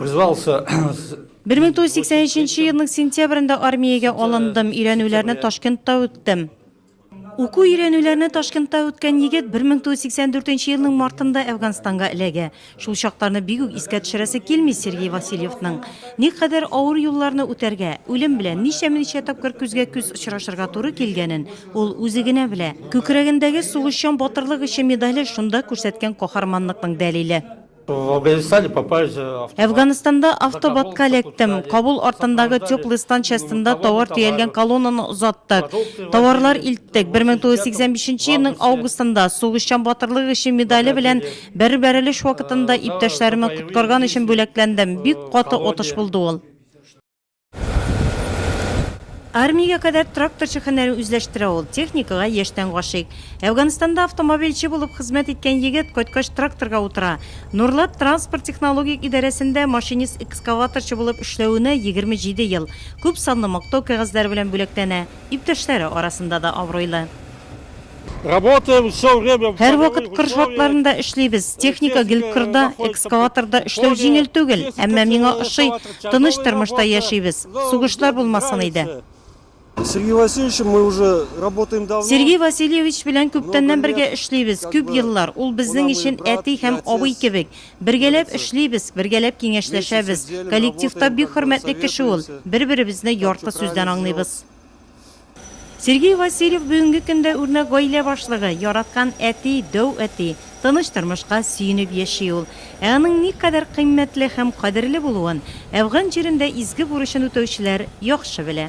Призвался Бер мең тугыз йөз сиксән өченче елның сентябрендә армиягә алындым, өйрәнүләрне Ташкентта үттем. Уку өйрәнүләрне Ташкентта үткән егет 1984 елның мартында Әфганстанга эләгә. Шул чакларны бик үк искә төшерәсе килми Сергей Васильевның. Ник кадәр авыр юлларны үтәргә, үлем белән ничәме-ничә тапкыр күзгә-күз очрашырга туры килгәнен ул үзе генә белә. Күкрәгендәге сугышчан батырлык өчен медале шунда күрсәткән каһарманлыкның дәлиле. В Афганистане попасть э, автобан. Әфганстанда автобатка эләктем. Кабул артындагы теплый станция астында товар төялгән колоннаны озаттык. Товарлар илттек. 1985 елның августында сугышчан батырлык өчен медале белән бер бәрелеш вакытында иптәшләремне коткарган өчен бүләкләндем. Бик каты отыш булды ул. Армиягә кадәр тракторчы һөнәрен үзләштерә ул, техникага яшьтән гашыйк. Әфганстанда автомобильче булып хезмәт иткән егет кайткач тракторга утыра. Нурлат транспорт технологик идарәсендә машинист-экскаваторчы булып эшләвенә 27 ел, күп санлы мактау кәгазьләре белән бүләкләнә, иптәшләре арасында да абруйлы. Һәрвакыт кыр шартларында эшлибез. Техника гел кырда, экскаваторда эшләү җиңел түгел, әмма миңа ошый, тыныч тормышта яшибез. Сугышлар булмасын иде. Сергей Васильевич белән күптәннән бергә эшлибез, күп еллар, ул безнең өчен әти һәм абый кебек. Бергәләп эшлибез, бергәләп киңәшләшәбез. Коллективта бик хөрмәтле кеше ул, бер-беребезне ярты сүздән аңлыйбыз. Сергей Васильев бүгенге көндә үрнәк гаилә башлыгы, яраткан әти, дәү әти. Тыныч тормышка сөенеп яши ул. Ә аның никадәр кыйммәтле һәм кадерле булуын, әфган җирендә изге бурычын үтәүчеләр яхшы белә.